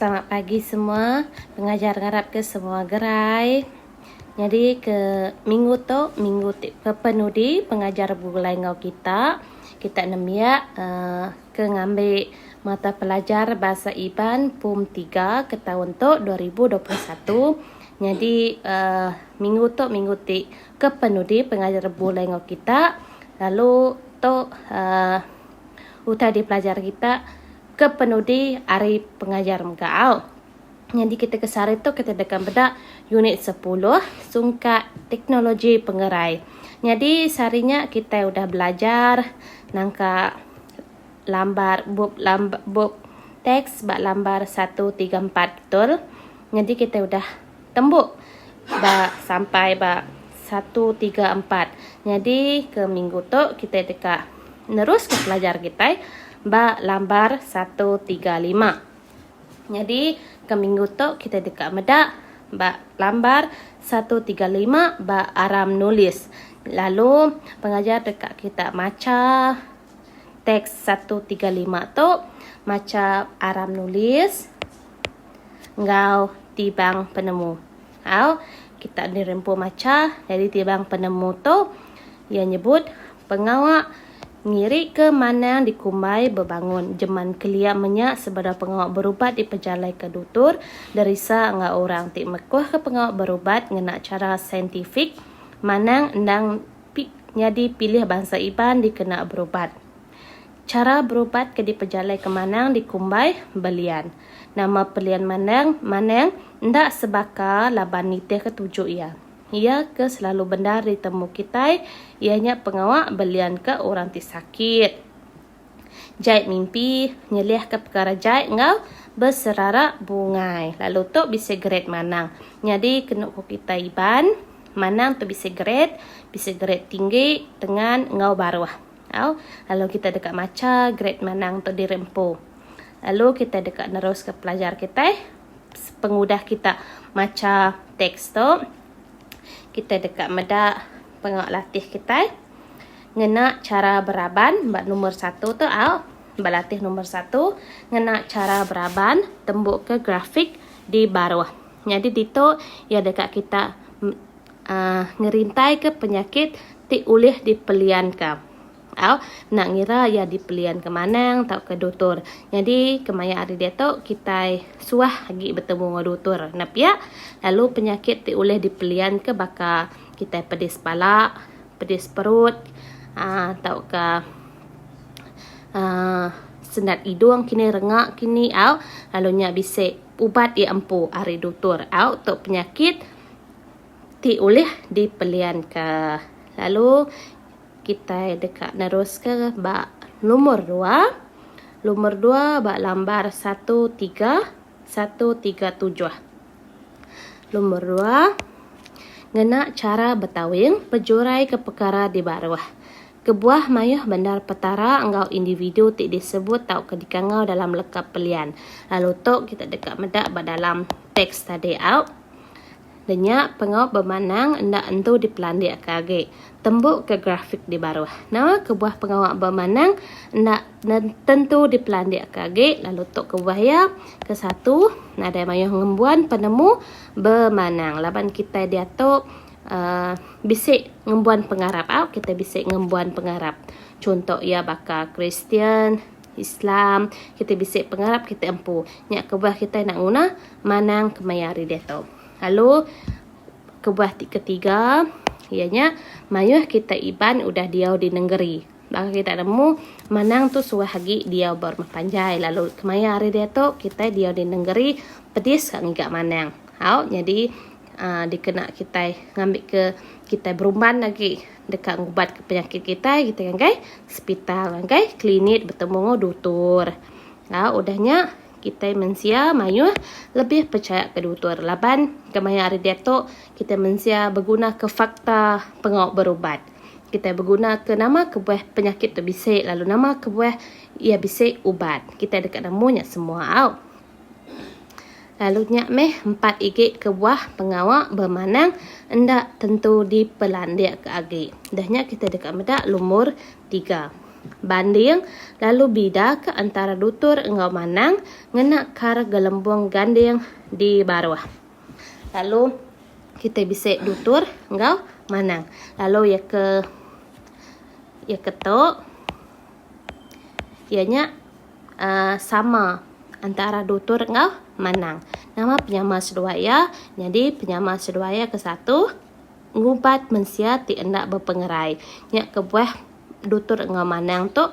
Selamat pagi semua. Pengajar ngarap ke semua gerai. Nyadi ke minggu tu, minggu ti ke penudi pengajar begulai enggau kita. Kita nembiak uhh ke ngambi mata pelajar Bahasa Iban pom tiga ke taun tu dua ribu dua puluh satu. Nyadi uhh minggu tu minggu ti ke penudi pengajar begulai enggau kita. Lalu tu uhh. Utai dipelajar kita ke penudi ari pengajar mega au. Nyadi ketika sehari tu kita deka meda unit sepuluh sungkak teknologi pengerai. Nyadi sehari nya kitai udah belajar nangka lambar bup lamb bup teks ba lambar satu tiga empat betul. Nyadi kitai udah Tembuk ba sampai ba satu tiga empat. Nyadi ke minggu tu kitai deka neruska pelajar kitai ba lambar satu tiga lima. Nyadi ke minggu tu kitai deka meda ba lambar satu tiga lima ba aram nulis. Lalu pengajar deka kita macha teks satu tiga lima tu, macha aram nulis. enggau tibang penemu. Au, kita di rempu macha nyadi tibang penemu tu iya nyebut pengawa ngirika manang dikumbai bebangun jeman kelia menya sebedau pengawa berubat dipejalaika dutur, derisa enggau orang ti mekuhka pengawa berubat ngena chara saintifik manang endang nyadi pilih bansa Iban dikena berubat. Chara berubat ke dipejalai ke Manang dikumbai belian. Nama pelian Manang Manang enda sebaka laban nitih ke tuju iya. Iya ke selalu bendar ditemu kitai iya nya pengawa belian ke orang ti sakit. Jai mimpi nyelih ke pekara jai enggau beserara bungai. Lalu tu bisi grade Manang. Nyadi kenu ku kitai Iban, Manang tu bisi grade, bisi grade tinggi, tengan enggau baruh. Au, lalu kitai deka macha grade manang tu diri empu. Lalu kitai deka neruska pelajar kitai pengudah kita macha teks tu. Kitai deka meda penga latih kitai ngena chara beraban ba number satu tu au. Ba latih number satu ngena chara beraban tembuka grafik di baruh. Nyadi ditu iya deka kita ngerintaika penyakit ti ulih dipelianka au enda ngira iya dipelianka manang tauka dutur. Nyadi kemaya ari diatu kitai suah agi betemu enggau dutur enda pia lalu penyakit ti ulih dipelianka baka kitai pedis bala, pedis perut aaa tauka aaa sendat hidung kinih renga kinih au lalu nya bisi ubat ti empu ari dutur au tu penyakit. ti ulih dipelianka. Lalu kitai deka neruska ba numur dua. Lumur dua ba lambar satu tiga, satu tiga tujuh. Lumur dua ngena chara betawing pejuraika pekara di baruh. Kebuah mayuh bendar petara enggau individu ti disebut tauka dikangau dalam leka pelian. Lalu tu kita deka meda ba dalam teks tadi au. Denya pengawa bemanang enda entu dipelandikka agi. Tembuka grafik di baruh. Nama kebuah pengawa bemanang enda tentu dipelandikka agi lalu tu kebuah iya? Ke satu, nadai mayuh ngembuan penemu bemanang laban kitai diatu uhh bisi ngembuan pengarap au kitai bisi ngembuan pengarap. Chunto iya baka Kristian. Islam, kitai bisi pengarap kitai empu nya kebuah kitai enda nguna manang kemaya hari diatu. Lalu kebuah ti ketiga iya nya mayuh kitai Iban udah diau di nengeri. Baka kitai nemu manang tu suah agi diau ba rumah panjai lalu kemaya hari diatu kitai diau di nengeri pedis ka ngiga manang. Au nyadi aaa dikena kitai ngambika kitai berumban agi. deka ngubatka penyakit kitai kitai ngagai sepital ngagai klinik betemu enggau dutur. Nya udah nya kitai mensia mayuh lebih pechaya ke dutur laban kemaya hari diatu kitai mensia begunaka fakta pengawa berubat. Kitai begunaka nama kebuah penyakit tu bisi lalu nama kebuah iya bisi ubat. Kitai deka nemu nya semua au. Lalu nya meh empat igi kebuah pengawa bemanang enda tentu dipelandikka agi. Dah nya kita deka meda lumur tiga. Banding lalu bida ke antara dutur enggau manang ngena kar gelembung ganding di baruh. Lalu kita bisi dutur enggau manang. Lalu iya ke iya ke tu iya nya Uh, sama antara dutur enggau manang. Nama penyama seduai iya? Nyadi penyama seduai iya ke satu ngubat mensia ti enda bepengerai. Nya kebuah dutur enggau manang tu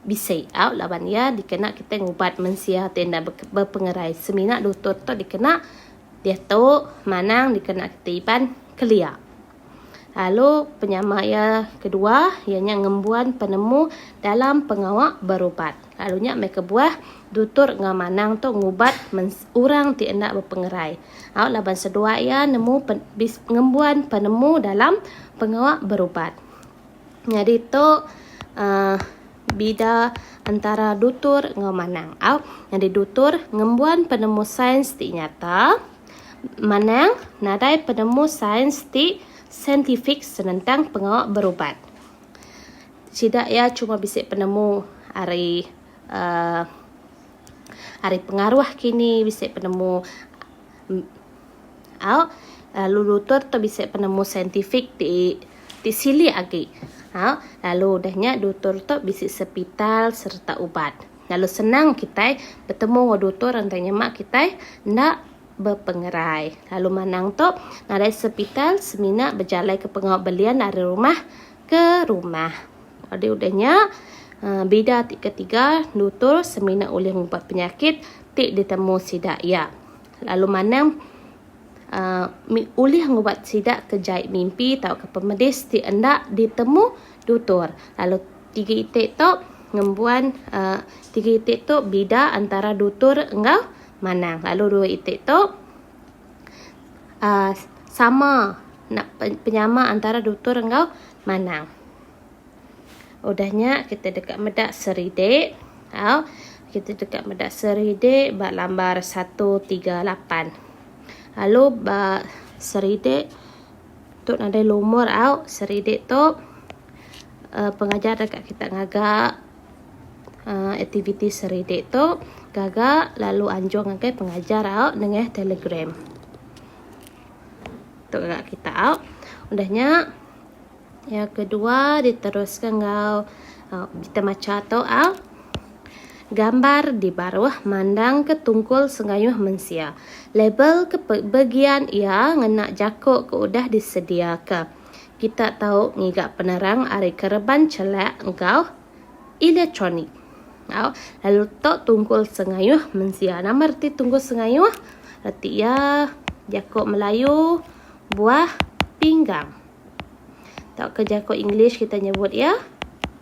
bisi au laban iya dikena kitai ngubat mensia ti enda bepengerai. Semina dutur tu dikena diatu, manang dikena kitai iban kelia. Lalu penyama iya kedua iya nya ngembuan penemu dalam pengawa berubat. Lalu nya meh kebuah dutur enggau manang tu ngubat orang ti enda bepengerai. Au laban seduai iya nemu ngembuan penemu dalam pengawa berubat. Nyadi tu uh, bida antara dutur enggau manang. Au nyadi dutur ngembuan penemu sains ti nyata. Manang nadai penemu sains ti saintifik senentang pengawa berubat. Sida iya cuma bisi penemu ari uhh ari pengaruh kini bisi penemu au lalu lutur tu bisi penemu saintifik ti ti silik agi au lalu udah nya dutur tu bisi sepital sereta ubat. Lalu senang kitai betemu enggau dutur entai nyema kitai enda bepengerai. Lalu manang tu nadai sepital semina bejalaika pengawa belian ari rumah ke rumah. Jadi udah nya eh, bida ti ketiga dutur semina ulih ngubat penyakit ti ditemu sida iya. Lalu manang eh, ulih ngubat sida ke jai mimpi tauka pemedis ti enda ditemu dutur. Lalu. Tiga iti tu ngembuan uh, tiga iti tu bida antara dutur enggau manang. Lalu dua iti tu uh, sama nak penyama antara dutur enggau manang. Udahnya kita dekat meda seride. Au, kita dekat meda seride ba lambar 138. Lalu ba seride Tu nadai lumur au seridi tu uhh pengajar deka kita ngaga uhh aktiviti seridi tu gaga lalu anjung ngagai pengajar au nengah telegram. Tu gaga kita au. Udah nya yang kedua diteruska enggau uhh berita macha tu au. Gambar di baruh mandangka tungkul sengayuh mensia. Label ke begian iya ngena jaku ke udah disediaka. Kita tau ngiga penerang ari kereban chelak enggau elektronik. Au, lalu tu tungkul sengayuh mensia. Nama reti tungkul sengayuh? Reti iya jaku Melayu buah pinggang. Tauka jaku English kita nyebut iya.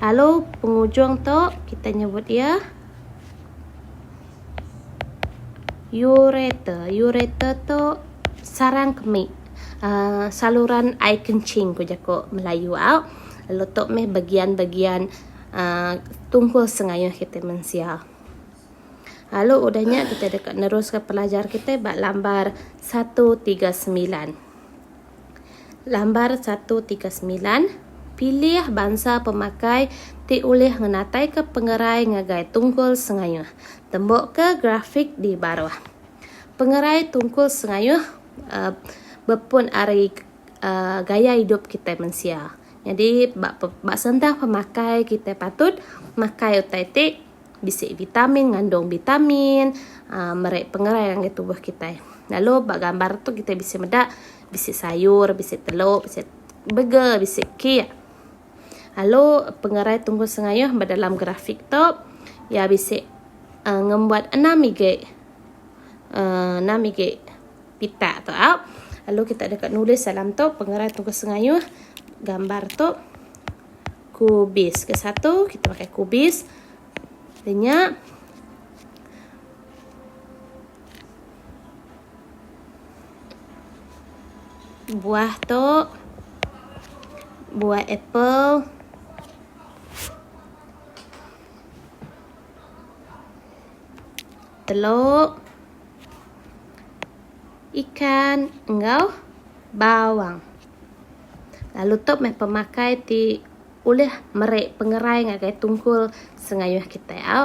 Lalu pengujung tu kita nyebut dia ureter. Ureter tu sarang kemi uh, saluran air kencing ku jaku Melayu au. Lalu tu meh bagian-bagian uh, tunggul sengayuh kita mensia. Lalu udahnya kita deka neruskan pelajar kita ba lambar 139. Lambar satu tiga semilan, Pilih bansa pemakai ti ulih ngenataika pengerai ngagai tungkul sengayuh. Tembuka grafik di baruh. Pengerai tungkul sengayuh bepun ari gaya idup kitai mensia. Nyadi ba sentang pemakai kitai patut makai utai ti. bisi vitamin ngandung vitamin uh, meri pengerai ngagai tubuh kita lalu ba gambar tu kita bisi meda bisi sayur bisi telur bisi burger bisi kek lalu pengerai tunggu sengayuh ba dalam grafik tu ya bisi uh, ngembuat enam igi uh, enam igi pita tu au lalu kita deka nulis dalam tu pengerai tunggu sengayuh gambar tu kubis. Ke satu kita pakai kubis. Denya buah tu buah apple telur ikan enggau bawang. lalu tu meh pemakai ti ulih meri pengerai ngagai tungkul sengayuh kitai au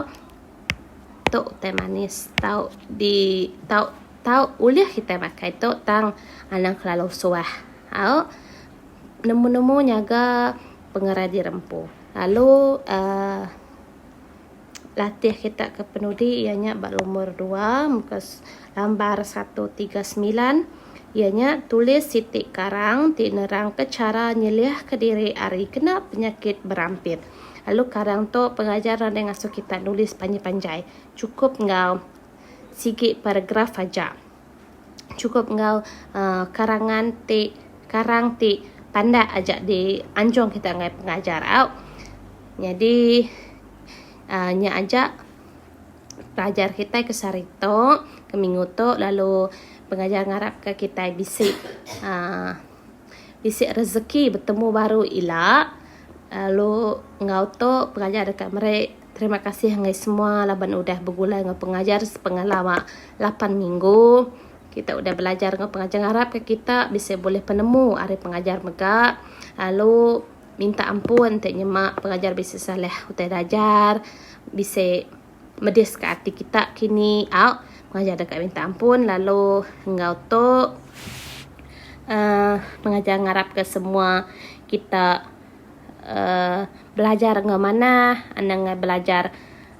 tu utai manis tau di tau tau ulih kitai makai tu tang anang kelalu suah au nemu nemu nyaga pengerai di rempu lalu uhh Latih kita ke penudi iya nya ba lumur dua muka lambar satu tiga semilan iya nya tulis siti karang ti nerangka chara nyeliahka diri ari kena penyakit berampit. Lalu karang tu pengajar nadai ngasuh kita nulis panjai-panjai, chukup enggau sigi paragraf aja. chukup enggau uh, karangan ti karang ti pandak aja di anjung kita ngai pengajar au. Nyadi uh, nya aja pelajar kita ke sehari tu, ke minggu tu lalu pengajar ngarap ke kita bisi uh, bisi rezeki betemu baru ila lalu enggau tu pengajar deka meri Terima kasih enggai semua laban udah begulai enggau pengajar sepengah lama lapan minggu. Kita udah belajar enggau pengajar ngarapka kita bisi bulih penemu ari pengajar mega lalu minta ampun enti nyema pengajar bisi salah utai dajar bisi mediska ati kita kini au pengajar deka minta ampun lalu enggau tu uhh pengajar ngarapka semua kita. uhh belajar enggau manah anang ngai belajar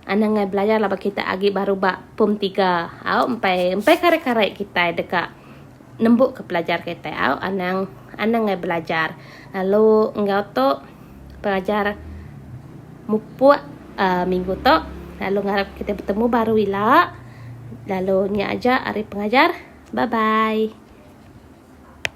anang ngai belajar laban kitai agi baru ba pom tiga au empai empai karai-karai kitai deka nembu ka pelajar kitai au anang anang ngai belajar lalu enggau tu pelajar mupuk uhh minggu tu lalu ngarap kitai betemu baru ila lalu nya aja ari pengajar bye bye.